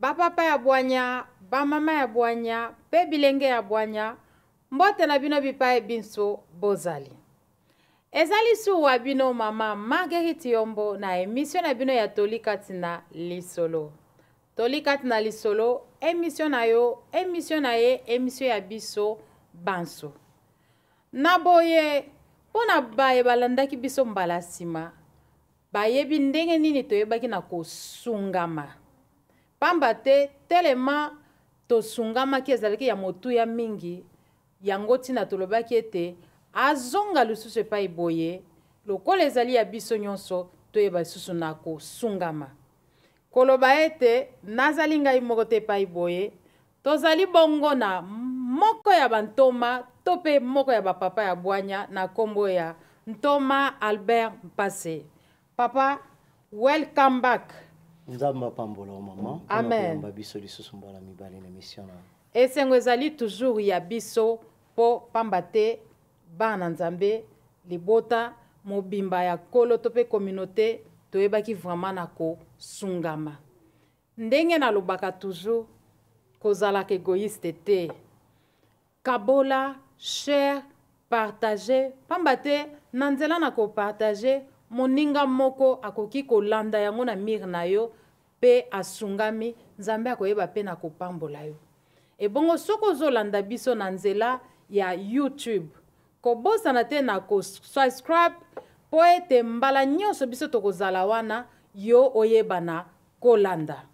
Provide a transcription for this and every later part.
bapapa ya bwanya bamama ya bwanya mpe bilenge ya bwanya mbote na bino bipai binso bozali ezali suwa bino mama marguerite yombo na emisio na bino ya toli kati na lisolo toli kati na lisolo emisio na yo emisio na ye emisio ya biso banso Na boye, mpo na baye balandaki biso mbala nsima, bayebi ndenge nini toyebaki na kosungama. Pamba te, telema tosungamaki ezalaki ya motuya mingi, yango ntina tolobaki ete azonga lisusu epai boye, lokola ezali ya biso nyonso toyeba lisusu na kosungama. Koloba ete nazali ngai moko te epai boye, Tozali bongo na moko ya bantoma to mpe moko ya bapapa ya bwanya na nkombo ya ntoma Albert Mpase. Papa, welcome back. Nzambe apambola yo mama. Amen. Mpo biso lisusu mbala mibale na emission na. Esengo ezali toujours ya biso mpo pamba te bana Nzambe libota mobimba ya kolo to mpe communauté toyebaki vraiment na kosungama. Ndenge nalobaka toujours kozalaka egoïste te. Kabola, share, partage pamba te na nzela na ko partage moninga moko akoki kolanda yango na mire na yo pe asungami Nzambe akoyeba pe na kopambola yo. Ebongo soki ozolanda biso na nzela ya YouTube kobosana te na ko subscribe po ete mbala nyonso biso tokozala wana yo oyebana kolanda.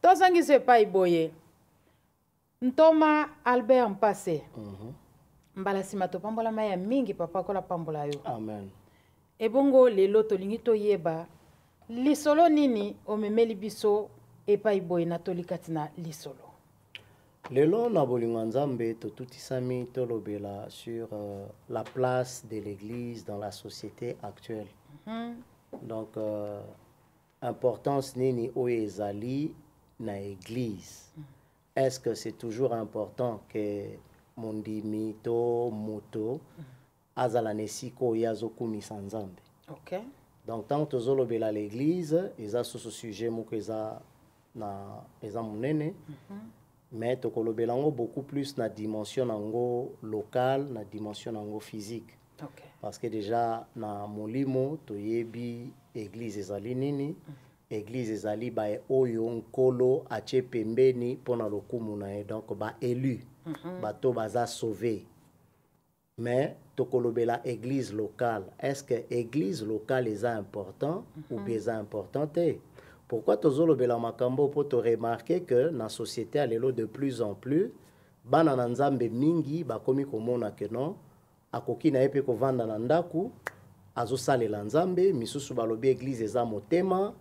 Tozongisi epai boye ntoma Albert Mpase mm -hmm. mbala nsima topambolama ya mingi papa akola pambola yo Amen. ebongo lelo tolingi toyeba lisolo nini omemeli biso epai boye na toli kati na lisolo Lelo na bolingo ya Nzambe totutisami tolobela sur euh, la place de l'église dans la société actuelle. Mm -hmm. Donc euh, importance nini oyo ezali na église. Mm -hmm. Est-ce que c'est toujours important que mondimi to moto mm -hmm. azala na esika oyo ye azokumisa nzambe okay. donc ntango tozolobela l'église eza susu sujet moko eza na eza monene mm -hmm. mais tokolobela yango beaucoup plus na dimension na yango locale na dimension na yango physique okay. parce que déjà na molimo toyebi église ezali nini mm -hmm. église ezali baye oyo nkolo atie pembeni mpo na lokumu na ye donc baelu mm -hmm. bato baza sauve mais tokolobela église locale est ce que église locale eza important mm -hmm. ou bien eza important te pourquoi tozolobela makambo mpo toremarke que na société ya lelo de plus en plus bana na nzambe mingi bakomi komona que non akoki na ye mpe kovanda na ndako azosalela nzambe misusu balobi église eza motema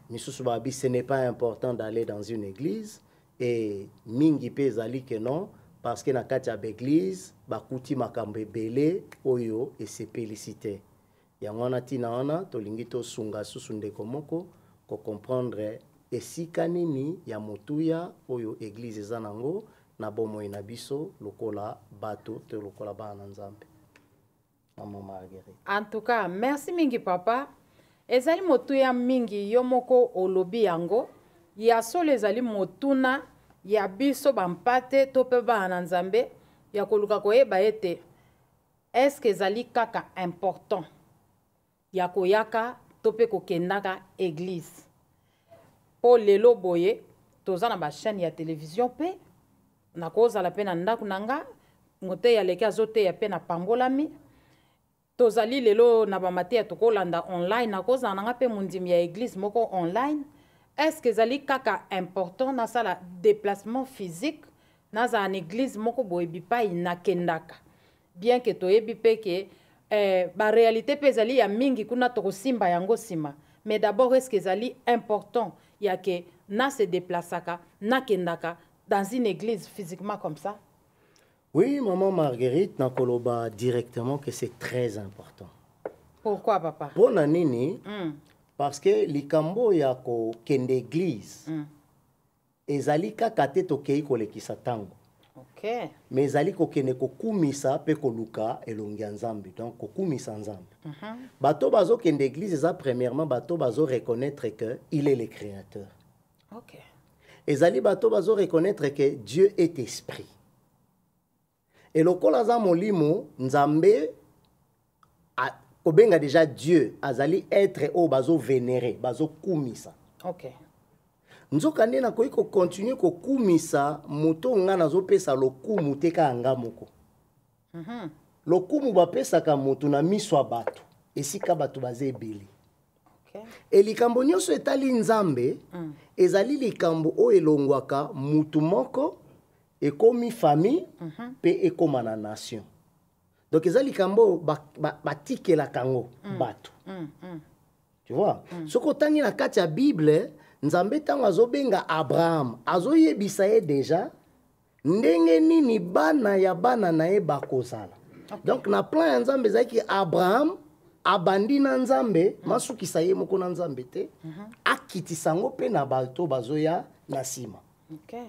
misusu balobi ce n'est pas important d'aller dans une église e mingi mpe ezali ke non parce que na kati ya baeglise bakuti makambo ebele oyo esepelisi te yango wana ntina wana tolingi tosunga susu ndeko moko kocomprendre esika nini ya motuya oyo eglise eza na yango na bomoi na biso lokola bato to lokola bana na nzambe maman marguerite en tout cas merci mingi papa ezali motuya mingi yo moko olobi yango ya solo ezali motuna ya biso bampate to mpe bana na nzambe ya koluka koyeba ete eske ezali kaka important ya koyaka to mpe kokendaka eglise mpo lelo boye toza na bachaîne ya televizio mpe nakozala mpe na ndako na nga moteyi aleki azoteya mpe napambolami tozali lelo na bamateya tokolanda online nakozala na nga mpe mondimi ya eglise moko online estce ezali kaka important nasala déplacement physique nazala na eglise moko boye bipai nakendaka bien que toyebi mpe ke eh, barealité mpe ezali ya mingi kuna tokosimba yango nsima mais d'abord eske ezali important ya ke na se deplaçaka nakendaka dans une église physiquement comme ça oui maman marguerite nakoloba directement que c'est très important pourquoi papa mpo na nini mm. parce que likambo ya kokende église mm. ezali kaka te tokei kolekisa ntango okay. mais ezali kokende kokumisa mpe koluka elongi ya nzambe donc kokumisa nzambe mm -hmm. bato bazokende église eza premièrement bato bazo reconnaître que il est le créateur okay. ezali bato bazo reconnaître que dieu est esprit Et lokola aza molimo, Nzambe a, kobenga déjà Dieu azali être oyo bazo vénérer, bazo kumisa. Okay. nzoka nde nakoki kokontinue kokumisa moto ngai nazopesa lokumu te kaka nga moko mm -hmm. lokumu bapesaka moto na miso ya bato esika bato baza ebele okay. e likambo nyonso etali nzambe mm. ezali likambo oyo elongwaka mutu moko ekomi famille mm -hmm. pe ekoma na nation donc eza likambo oyo batikelaka yango ba, ba mm. bato mm. mm. tu vois mm. soki otangi na kati ya bible nzambe ntango azobenga abraham azoyebisa ye deja ndenge nini bana ya bana na ye bakozala okay. donc na plan ya nzambe ezalaki abraham abandi na nzambe mm. masukisa ye moko na nzambe te mm -hmm. akitisa yango mpe na bato bazoya na nsima okay.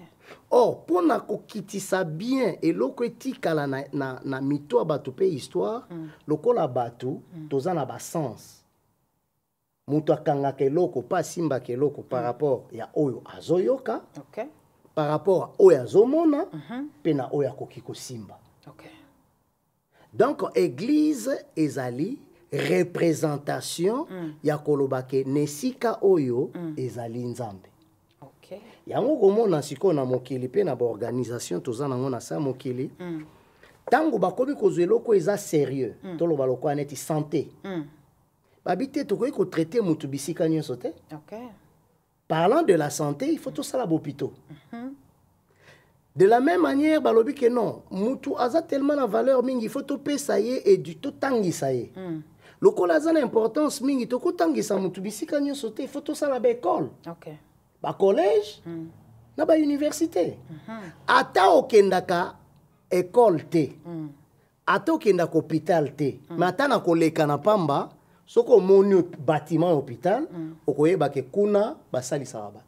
or oh, mpo na kokitisa bien eloko etikala na, na, na mito ya bato mpe histoire mm. lokola bato mm. toza na basens moto akangaka eloko mpe asimbaka eloko par mm. rapport ya oyo azoyoka okay. par rapport ya oyo azomona mpe mm -hmm. na oyo akoki kosimba okay. donc église ezali représentation mm. ya koloba ke na esika oyo mm. ezali nzambe okay. yango komona sikoyo na mokili mpe na baorganisation toza nango na sa mokili mm. ntango bakomi kozwa eloko eza sérieux mm. toloba lokola neti santé mm. babi te tokoki kotraite motu bisika nyonso te okay. parlant de la santé il faut tosala bopito mm -hmm. de la même manière balobi ke non motu aza tellement na valeur mingi il faut topesa ye edu totangisa ye mm. lokola aza na importance mingi tokotangisa motu bisika nyonso te il faut tosala baekole okay. bacollège mm. na bauniversité mm -hmm. ata okendaka ekole te mm. ata okenda ko hopital te mm. mais ata na koleka na pamba soki omoni bâtiment ya hopital mm. okoyeba ke kuna basalisaka bato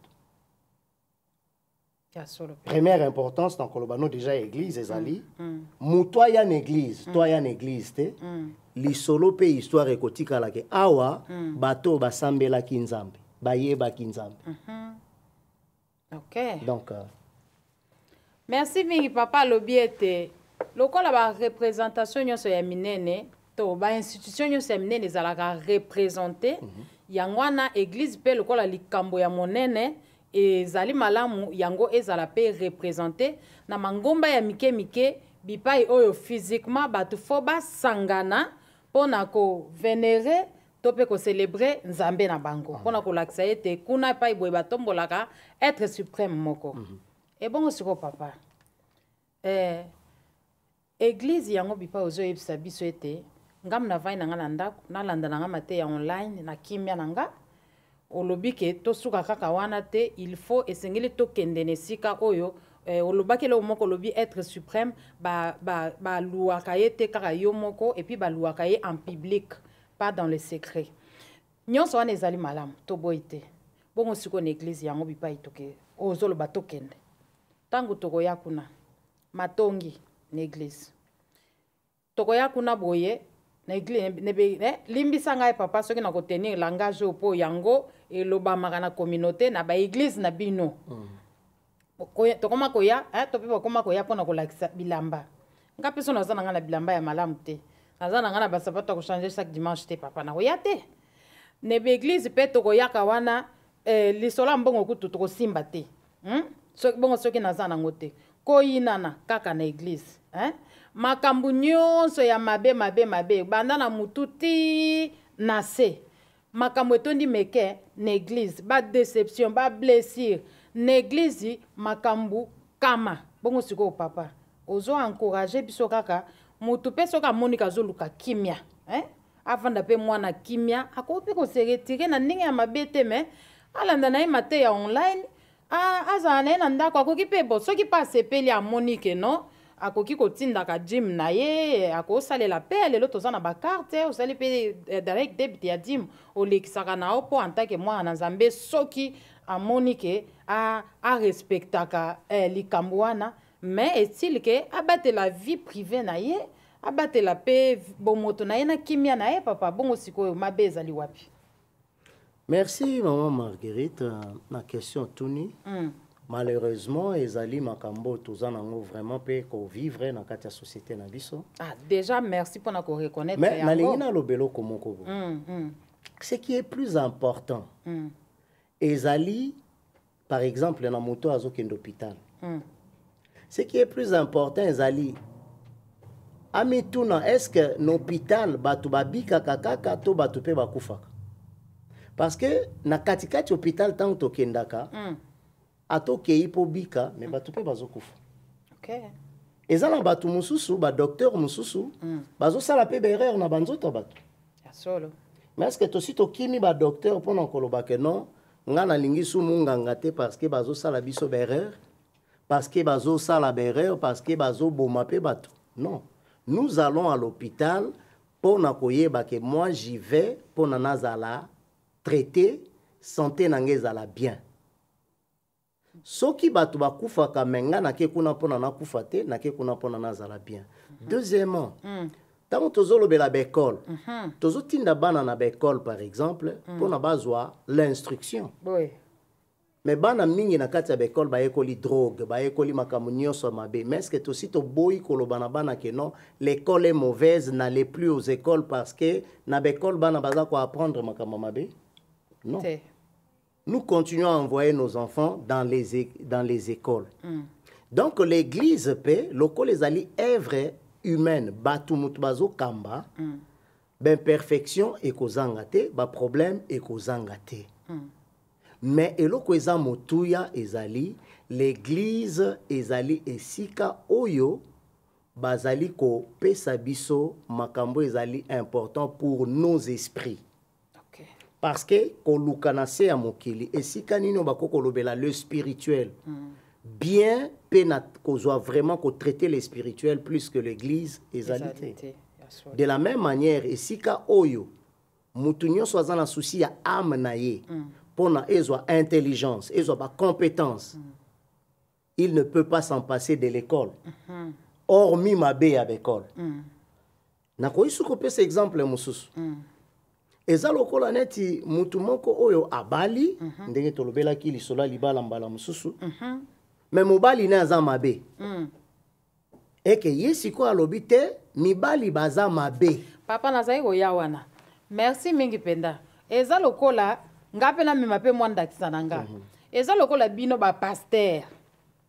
première importance na koloba no déjà église ezali mm. mm. moto aya na église mm. to aya na église te mm. lisolo mpe histoire ekotikala ke awa mm. bato oyo basambelaki nzambe bayebaki nzambe mm -hmm. okay. donc euh, merci mingi papa alobi ete lokola barepresentation nyonso ya minene to bainstitution nyonso ya minene ezalaka represente mm -hmm. yango wana eglize mpe lokola likambo ya monene ezali malamu yango ezala mpe represente na mangomba ya mike mike bipai oyo physiquement bato fo basangana mpo na kovenere to mpe kocelebre nzambe na bango mpo na kolakisa ete kuna epai boye batombolaka etre supreme moko mm -hmm. ebongo sikoyo papa eh, eglize yango bipai ozoyebisa biso ete ngambo na vai na ngai na ndako nalanda na ngai mateya online na kimia na ngai olobi ke tosuka kaka wana te il faut esengeli tokende na esika oyo eh, olobaki eloko moko olobi être suprême baluaka ba, ba ye te kaka yo moko epuis baluaka ye en public pas dans le secret nyonso wana ezali malamu toboyi te bongo sikoyo na eglize yango bipai toke ozoloba tokende ntango tokoya kuna matongi na eglize tokoya kuna boye na eglize nebe eh, limbisa ngai papa soki nakotenir langage oyo mpo yango elobamaka na communauté na baeglize na bino mm. tokoma koya eh, to mpe bakoma koya mpo na kolakisa bilamba nga mpe so naza na ngai na bilamba ya malamu te naza na ngai na basapato ya kochange chaque dimanche te papa nakoya te ne baeglize mpe tokoyaka wana eh, lisolo ya mbongo kutu tokosimba te hmm? so, bongo soki naza nango te koyinana kaka na eglize eh? makambo nyonso ya mabe mabe mabe banda na motu ti na se makambo etondi meke na eglize ba deception ba blessure na eglize makambo kama bongo sikoyo papa ozo encourage biso kaka motu mpe soki amoni kazoluka kimia eh? avanda mpe mwana kimia akoki mpe koseretire na ndenge ya mabe te me alanda na ye mateya online Ah, azala na ye na ndako akoki mpe bo soki mpe asepeli amoni ke non akoki kotindaka jim na ye akosalela mpe ya lelo toza na bakarte osali mpe eh, direct debit ya jim olekisaka na yo mpo antake mwana na nzambe soki amoni ke arespectaka eh, likambo wana mais estile ke abatela vie prive na ye abatela mpe bomoto na ye na kimia na ye papa bongo sikoyo mabe ezali wapi merci maman marguerite na question otuni mm. malheureusement ezali makambo toza nango vraiment mpe kovivre na kati ya société na biso ah, déjà merci mpona koreconnaitre mais nalingi naloba eloko moko boye mm, mm. ce qui est plus important mm. ezali par exemple na moto azokende hôpital mm. ce qui est plus important ezali amituna est ce que na hôpital bato babikaka kaka to bato mpe bakufaka parce que na katikati hôpital ntango tokendaka mm. ata okei mpo obika me bato mpe bazokufa okay. eza na bato mosusu badokteur mosusu mm. bazosala mpe baerreur na banzoto ya bato mais est ce que tosi tokimi badokteur mpo na koloba ke non nga nalingi su munganga te parce que bazosala biso baerreur parce que bazosala baerreur parce que bazoboma mpe bato non nous allons à l'hôpital mpo na koyeba ke moi j'y vais mpo na nazala traité sante na nga ezala bien soki bato bakufaka me nga nake kuna mpona nakufa te nake kuna mpona nazala bien mhm. deuxièmement mm. ntango mm. tozolobela baekole mm -hmm. tozotinda bana na baekole par exemple mm. mpona mm. bazwa l'instruction oui. me bana mingi na kati ya baekole bayekoli drogue bayekoli makambo nyonso ya mabe mais ceque tosi toboyi koloba na bana ke non l'école est mauvaise na le plus aux écoles parce que na baekole bana baza koapprendre makambo mabe non Te. nous continuons à envoyer nos enfants dans les, dans les écoles. Mm. Donc l'église pe lokola ezali œuvre humaine bato moto bazokamba mm. baimperfection ekozanga te baproblème ekozanga te mm. mais eloko eza motuya ezali l'église ezali esika oyo bazali kopesa biso makambo ezali important pour nos esprits okay. parce que koluka na se ya mokili esika nini bakoki kolobela le spirituel mm. bien mpe na kozwa vraiment kotraite le spirituel plus que l'église ezali te de la même manière esika oyo moto nyonso aza na souci ya ame na ye mpo mm. na ezwa intelligence ezwa bacompétence mm. il ne peut pas s'en passer de l'école mm-hmm. hormis mabe ya baekole mm. nakoki soki kopesa exemple mosusu mm. eza lokola neti motu moko oyo abali mm -hmm. ndenge tolobelaki lisolo ya libala mbala mosusu mm -hmm. me mobali ne aza mabe mm. eke ye sikoyo alobi te mibali baza mabe papa nazali koya wana merci mingi mpenza eza lokola nga mpe namema mpe mwa ndakisa na nga mhm. eza lokola bino bapaster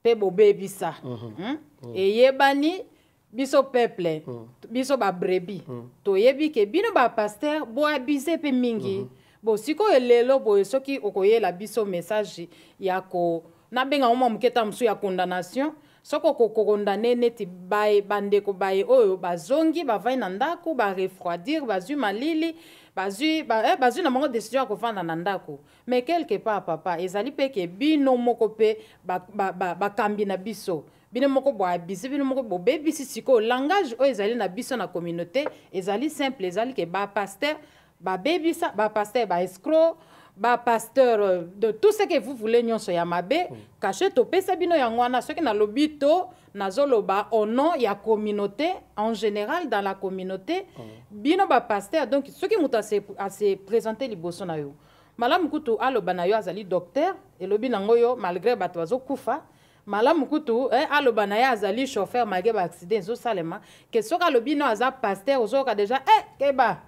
mpe bobebisa mhm. hmm? mhm. eyebani biso peuple biso babrebi toyebi ke bino bapaster boabize mpe mingi bo sikoyo lelo boye soki okoyela biso message ya ko nabenga ngo mwa moke ta mosusu ya condamnation soki okokondane neti baye bandeko baye oyo bazongi bavandi na ndako barefroidir bazwi malili bazwi ba, eh, bazwi na bango decision ya kovanda na ndako mais quelque part papa ezali mpe ke bino moko mpe bakambi ba, ba, ba na biso bino moko boabuse bino moko bobebisi sikoyo langage oyo ezali na biso na communauté ezali simple ezali ke bapaster babebisa ba pasteur ba escroc ba pasteur euh, de tout ce que vous voulez nyonso ya mabe mm. kashe topesa bino yango wana soki nalobi to nazoloba au nom ya communauté en général dans la communauté mm. bino ba pasteur donc soki moto ase présente liboso na yo malamu kutu aloba na yo azali docteur elobi nango yo malgré bato bazokufa malamu kutu eh, aloba na ye azali chauffeur malgre ba accident ezosalema ke soki alobi no aza pasteur ozoyoka deja eh, keba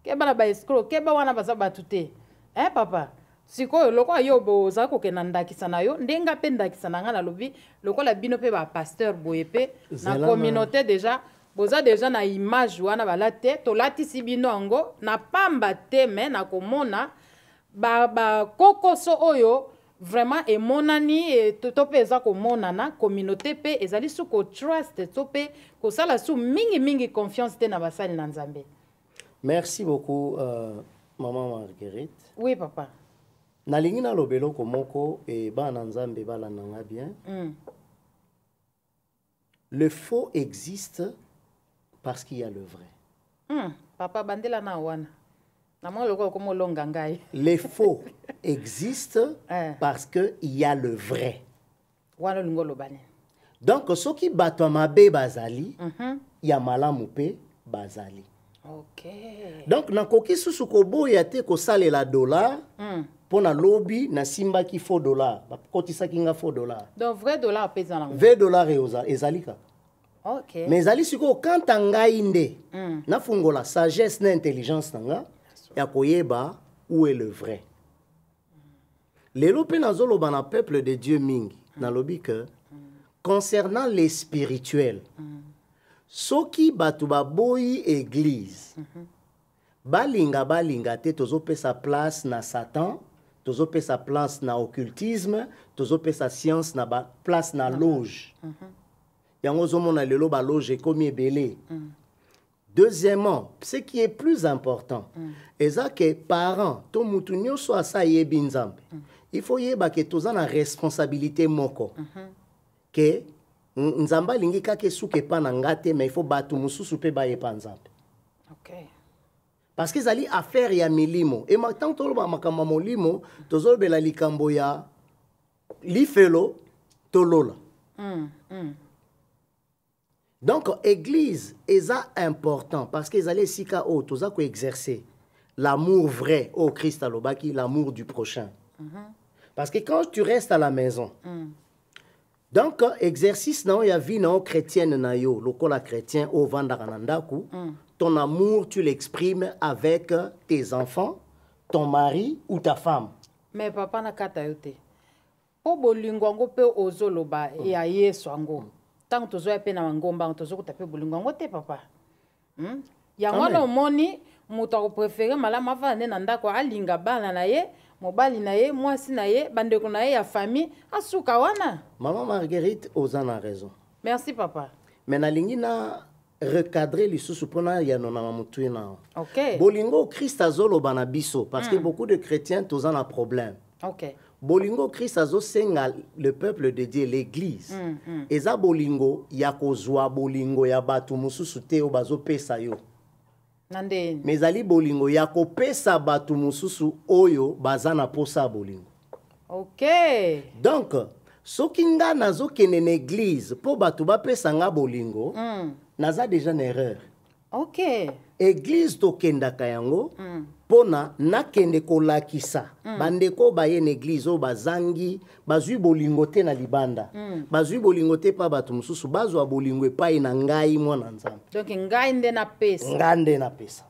keba na baescro keba wana baza bato te eh, papa sikoyo lokola yo ozali kokenda ndakisa na yo nde nga mpe ndakisa na ngai nalobi lokola bino mpe bapasteur boye mpe na communauté deja boza deja na image wana balati te tolatisi bino yango na pamba te me na komona ba ba kokoso oyo vraiment emonani e, to, to mpe eza komonana communauté mpe ezali su kotrust to mpe kosala su mingimingi confiance te na basali na nzambe merci beaucoup uh, maman marguerite oui papa nalingi naloba eloko moko e bana nzambe balanda nga bien mm. Le faux existe parce qu'il y a le vrai. Hmm, papa bandela na wana. Na mwa lokola komo longa ngai. Les faux existent eh. parce que il y a le vrai. Wana lingo lobani. Donc soki bato ya mabe bazali, mm -hmm. ya malamu pe bazali. okay. donc nakoki susu koboya te kosalela dollar mm. mpo na lobi nasimbaki faux dollar bakotisaki nga faux dollar donc vrai dollar mpe eza nango vrai dollar ezali kaka okay. mais ezali sikoyo kanta ngai nde mm. nafungola sagesse na intelligence na nga ya koyeba où est le vrai lelo mpe nazoloba na peuple de dieu mingi mm. nalobi ke mm. concernant les spirituel mm. soki bato baboyi église mm -hmm. balinga balinga te tozopesa place na satan tozopesa place na occultisme tozopesa science na ba place na loge mm -hmm. yango ozomona lelo baloge ekomi ebele mm. deuxièmement ce qui est plus important mm. eza ke parent to mutu nyonso asi ayebi nzambe mm. il faut yeba ke toza na responsabilité moko mm -hmm. ke nzambe alingi kaka esuka epa na nga te mais il faut bato mosusu mpe baye epa nzambe okay. parce que ezali affaire ya milimo e ntango toloba makambo ya molimo tozolobela likambo ya lifelo to lola mm, mm. donc église eza important parce que ezali esika oyo toza koexercer l'amour vrai oyo oh, christ alobaki l'amour du prochain mm -hmm. parce que quand tu restes à la maison mm. donc exercice na yo ya vie na yo chrétienne na yo lokola chrétien oyo ovandaka na ndako mm. ton amour tu l'exprimes avec tes enfants ton mari ou ta femme mais papa nakata yo te mpo bolingo yango mpe ozoloba mm. ya yesu yango mm. ntango tozoya mpe na mangomba yango tozokuta mpe bolingo yango te papa hmm? yango wana omoni moto akoprefere malamu afanda nde na ndako alinga bana na ye mobali na ye mwasi na ye bandeko na ye ya famille asuka wana mama marguerite oza na raison merci papa me nalingi na recadrer lisusu mpo na yano na mamutui nao okay. bolingo christ azoloba na biso parce que mm. beaucoup de chrétiens toza na problème okay. bolingo christ azosenga le peuple de dieu l'église mm, mm. eza bolingo ya kozwa bolingo ya bato mosusu te oyo bazopesa yo me ezali bolingo ya kopesa bato mosusu oyo baza na mposa ya bolingo okay. donc soki nga nazokende na eglize mpo bato bapesa nga bolingo mm. naza deja na erreur okay. eglize tokendaka yango mm. mpo na nakende kolakisa mm. bandeko baye na eglize oyo bazangi bazwi bolingo te na libanda mm. bazwi bolingo te mpa bato mosusu bazwa bolingo epai na ngai mwana nzambe donc ngai nde napesa ngai nde napesa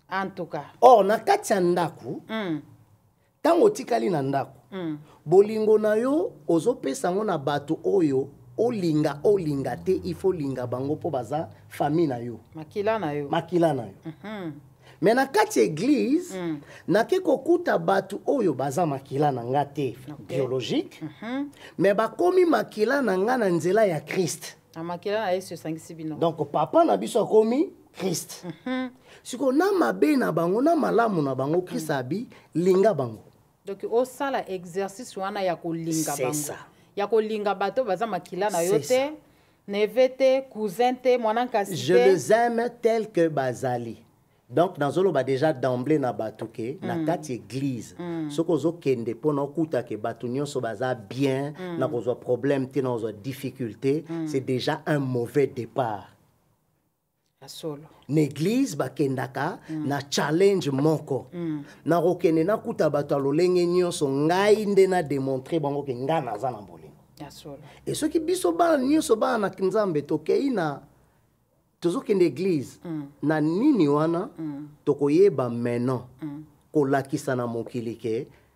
en tout cas or na kati ya ndako mm. ntango mm. otikali na ndako mm. bolingo na yo ozopesa yango na bato oyo olinga olinga te ifo olinga bango mpo baza famille na yo makila na yo makila na yo mm -hmm. me na kati ya eglize mm. nake kokuta bato oyo baza makila na nga te okay. biologique mm -hmm. me bakomi makila na nga na nzela ya kriste na makila na yesu esangisi bino donc papa na biso akomi kriste mm -hmm. sikoyo na mabe na bango na malamu na bango kriste mm. abi linga bango donc osala exercice wana ya kolinga bango ya kolinga bato baza makila na yo te neve te cousin te mwana nkasi je les aime tel que bazali donc nazoloba déjà d'emblée na bato ke mm. na kati église mm. soki ozokende mpo na okuta ke bato nyonso baza bien mm. na kozwa problème te na kozwa difficulté mm. c'est déjà un mauvais départ na eglize bakendaka mm. na challenge moko mm. nakokende nakuta bato ya lolenge nyonso ngai nde na demontre bango ke ngai naza na bolingo e soki biso bana nyonso bana na nzambe tokei na tozokende eglize mm. na nini wana mm. tokoyeba maintenant mm. kolakisa na mokili ke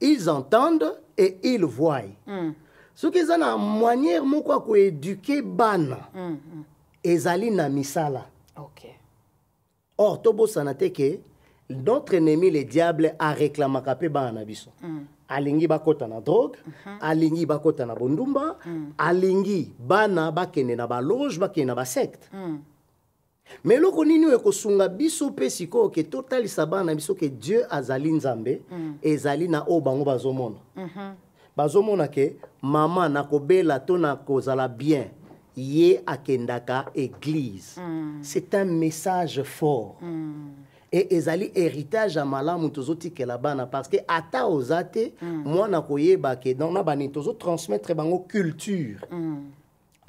ils entendent et ils voient mm. soki eza na manière moko ya koeduke bana mm -hmm. ezali na misala okay. or tobosana te ke notre ennemi le diable areklamaka mpe bana na biso mm. alingi bakota na drogue mm -hmm. alingi bakota na bondumba mm. alingi bana bakende na baloge bakende na basecte mm. me eloko nini oyo ekosunga biso mpe sikoyo ke totalisa bana na biso ke dieu azali nzambe mm. ezali na oyo bango bazomona mm -hmm. bazomona ke mama na kobela to na kozala bien ye akendaka eglise mm. c'est un message fort mm. e ezali héritage ya malamu tozotikela bana parce que ata oza te mm. mwana koyeba ke donc na banini tozotransmettre bango culture mm.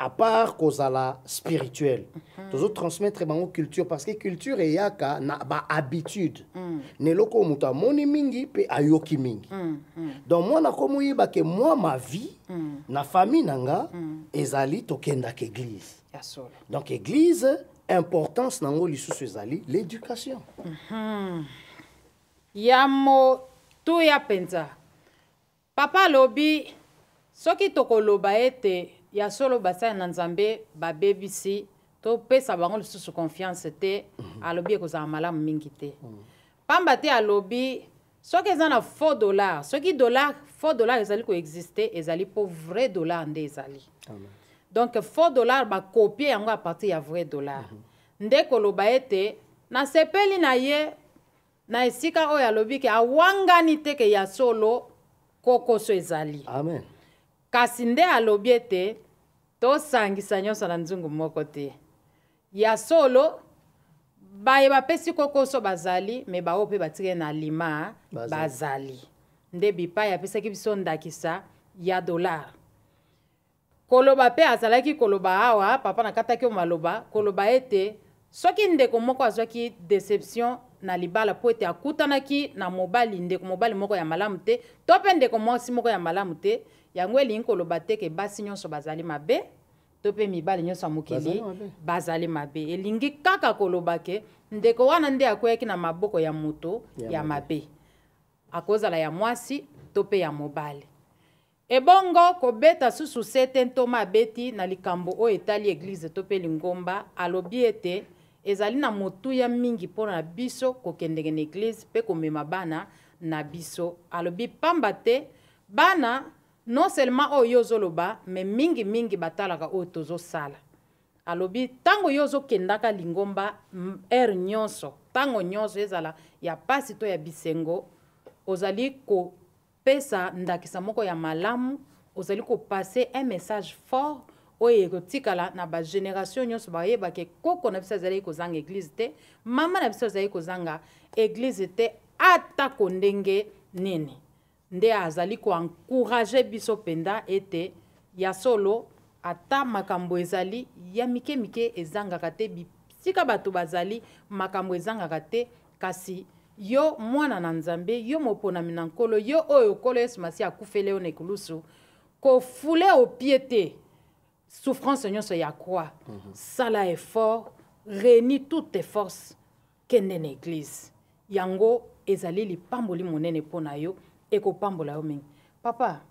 à part kozala spirituel mm. tozo transmettre bango culture parce que culture eyaka na bahabitude mm. na eloko oyo moto amoni mingi mpe ayoki mingi mm. Mm. donc mwana komoyeba ke mwa ma vie mm. na famille na nga mm. ezali tokendaka église yes, donc église importance na yango lisusu ezali l'éducation mm -hmm. ya motuya mpenza Papa alobi soki tokoloba ete ya solo basali na Nzambe babebisi topesa bango lisusu confiance te mhm. alobi ekozala malamu mingi te mhm. pamba te alobi soki eza na faux dollar soki dollar faux dollar ezali koexiste ezali mpo vrai dollar nde ezali donc faux dollar bakopie yango a partir ya vrai dollar mhm. nde koloba ete nasepeli na ye na esika oyo alobi ke awangani te ke ya solo kokoso ezali amen kasi nde alobi ete tosangisa nyonso na nzungu moko te ya solo baye bapesi kokoso bazali me baoyo mpe batikali na alima bazali, bazali. nde bipai apesaki biso ndakisa ya dolare Koloba pe azalaki koloba awa papa nakataki yo maloba koloba ete soki ndeko moko azwaki deception na libala po ete akutanaki na mobali ndeko mobali moko ya malamu te to pe ndeko mwasi moko ya malamu te yango elingi koloba te ke basi nyonso bazali mabe to pe mibali nyonso ya mokili bazali mabe elingi kaka koloba ke ndeko wana nde akweyaki na maboko ya moto ya mabe akozala ya mwasi to pe ya mobali Ebongo kobeta susu sete ntoma abeti na likambo oyo etali eglize to mpe lingomba, alobi ete, Ezali na motuya mingi mpo na biso kokendeke na eglize mpe komema bana na biso. Alobi, Mpamba te, bana, non seulement oyo yo ozoloba, mais mingi mingi batalaka oyo tozosala. Alobi, ntango yo ozokendaka lingomba, heure nyonso, ntango nyonso, ezala ya mpasi to ya bisengo, ozali ko Pesa ndakisa moko ya malamu ozali ko passer un message fort oyo ekotikala na ba generation nyonso bayeba ke koko na biso azalaki kozanga eglise te mama na biso azalaki kozanga eglise te atako ndenge nini nde azali koencourage biso mpenza ete ya solo ata makambo ezali ya mike mike ezangaka te bisika bato bazali makambo ezangaka te Kasi yo mwana na Nzambe, yo moponami na Nkolo, yo oyo Nkolo Yesu Masiya akufele yo na ekulusu, kofule opie te souffrance nyonso ya croix. Mm -hmm. Sala effort, reni toutes tes forces, kende na eglise. Yango ezali lipamboli monene mpo na yo, ekopambola yo mingi. Papa,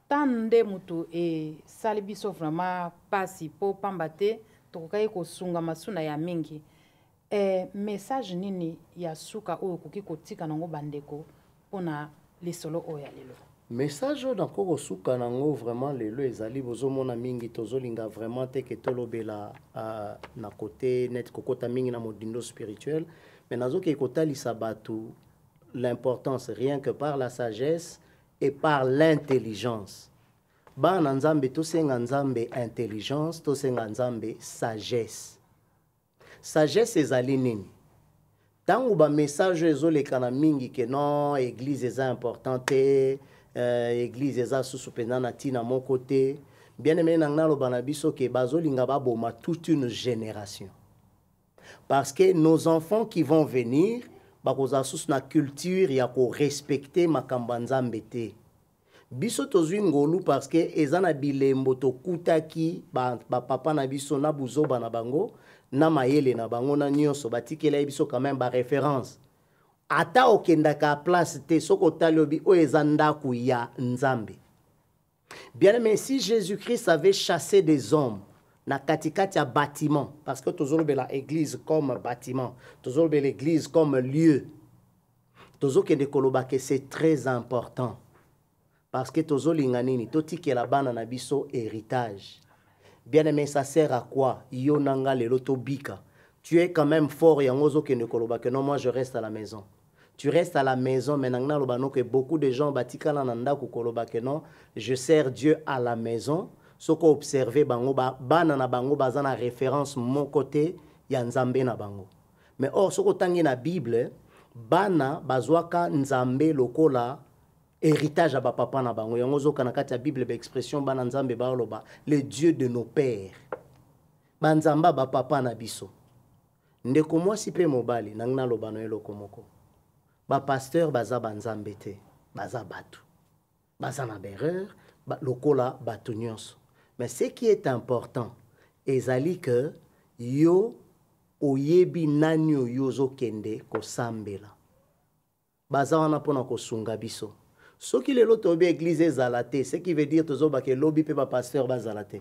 ta nde moto esali biso vraiment mpasi mpo pamba te tokokaki kosunga masuna ya mingi. Eh, message nini ya suka oyo okoki kotika nango bandeko mpona lisolo oyo ya lelo? message oyo nakoki kosuka nango vraiment lelo ezali bozomona mingi tozolinga vraiment te ke tolobela uh, na kote neti kokota mingi na modindo spirituel mais nazokei kotalisa bato l'importance rien que par la sagesse et par l'intelligence bana nzambe tosenga nzambe intelligence tosenga nzambe sagesse Sagesse ezali nini? Tango ba message oyo ezoleka na mingi que non eglise eza important te, euh, eglise eza susu mpenza na ntina moko te. Bien aimé na ngai naloba na biso que bazolinga baboma toute une génération. Parce que nos enfants qui vont venir bakozala susu na culture ya korespecte makambo ya Nzambe te. biso tozwi ngolu parceke eza na bilembo tokutaki bapapa ba na biso na buzoba na bango na mayele na bango na nyonso batikelai biso quand même baréférence ata okendaka place te soki otali obi oyo eza ndako ya nzambe bien aimé si jésus christ avait chassé des hommes na katikati ya bâtiment parce que tozolobela église comme bâtiment tozolobela église comme lieu tozokende koloba ke c'est très important parce que tozolinga nini totikela bana na biso héritage bien aimé ça sert à quoi yo na nga lelo tobika tu es quand même fort yango ozokende koloba que non moi je reste à la maison tu restes à la maison mais nanga naloba no que beaucoup de gens batikala na ndako koloba que non je sers dieu à la maison soki observe bango ba, bana na bango baza na référence moko te ya nzambe na bango Mais or soki otangi na Bible, bana bazwaka Nzambe lokola héritage ya bapapa na bango. Yango ozoka na kati ya Bible ba expression bana Nzambe baoloba le Dieu de nos pères. Banzamba bapapa na biso. Ndeko mwasi mpe mobali nangi naloba na eloko moko. Bapasteur baza banzambe te, baza bato. baza na berreur ba, lokola bato nyonso mais ce qui est important ezali que yo oyebi nani oyo ozokende kosambela baza wana mpo na kosunga biso soki lelo toyebi eglize ezala te ce qui veut dire tozobaka elobi mpe bapasteur bazala te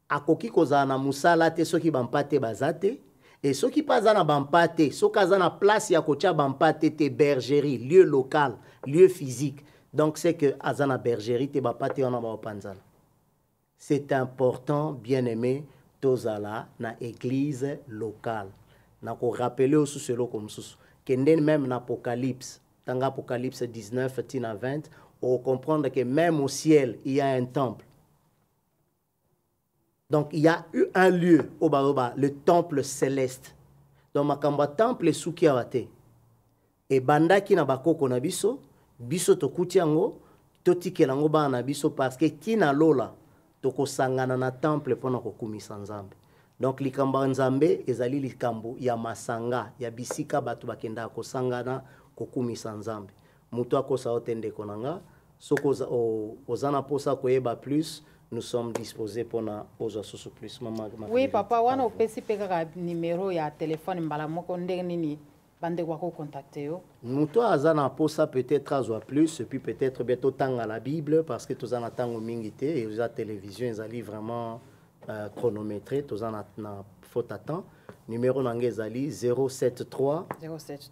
akoki kozala na mosala te soki bampate baza te e soki mpe aza na bampate soki aza na place ya kotya bampate te bergerie lieu local lieu physique donc c'est que aza na bergerie te bampate wana baopanzana c'est important bien aimé tozala na église locale na korapele yo susu eloko mosusu kende meme na apocalypse tanga apocalypse 19 tina 20 ocomprendre que meme au ciel il y a un temple donc il y a eu un lieu oyo baloba le temple céleste donc makambo ya temple esuki awa te ebandaki na bakoko na biso biso tokuti yango totikela yango bana na biso parce que ti na lola tokosangana na temple mpo na kokumisa nzambe donc likambo ya nzambe ezali likambo ya masanga ya bisika bato bakendaka kosangana kokumisa nzambe Mutu akosa yo te ndeko na nga. Soki oza, o, oza na posa koyeba plus, nous sommes disposés pona ozwa susu plus. Mama ma Oui papa, wana opesi pe kaka numero ya telefone mbala moko ndenge nini bandeko bako contacter yo? Mutu aza na posa peut-être azwa plus et puis peut-être bien totanga la Bible parce que toza na tango mingi te et oza télévision ezali vraiment euh, chronométré, toza na, na faute à temps. Numero na nga ezali 073 073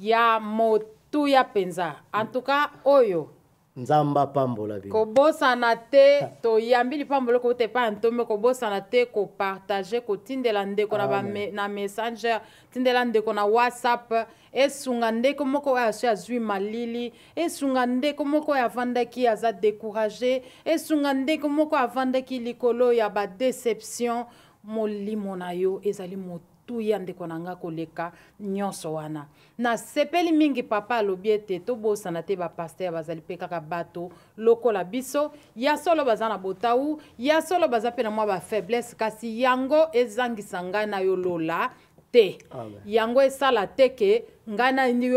ya motuya mpenza antuka oyo nzambe apambola bino kobosana te toyambi lipamboli kouta epai ya ntombe kobosana te kopartage kotindela ndeko na, ba, na messenger tindela ndeko na whatsapp esunga ndeko moko oyo asi azwi malili esunga ndeko moko oyo avandaki aza decourage esunga ndeko moko avandaki likolo ya badeception molimo na yo ezali moto tuya ndeko na nga koleka nyonso wana nasepeli mingi papa alobi ete tobosana te bapaster bazali mpe kaka bato lokola biso ya solo baza na botau ya solo baza mpe na mwa bafaiblesse kasi yango ezangisa ngai na yo lola te Amen. yango esala te ke ngai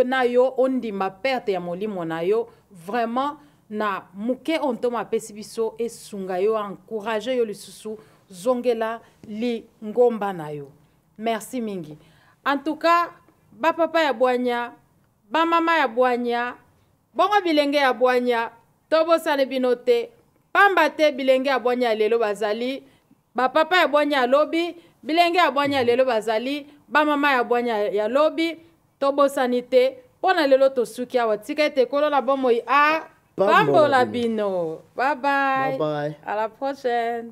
na yo ondima perte ya molimo na yo vraiment na moke oyo ntoma apesi biso esunga yo encourage yo lisusu zongela lingomba na yo merci mingi en tout cas bapapa ya bwanya bamama ya bwanya bongo bilenge ya bwanya tobosani bino te pamba te bilenge ya bwanya ya lelo bazali Ba papa ya bwanya ya lobi, bilenge ya bwanya ya lelo bazali ba mama ya bwanya ya lobi. Tobosani te, mpo na lelo tosuki awa. Tika ete Nkolo na bomoi a pambola bino. Bye bye. Bye bye. À la prochaine.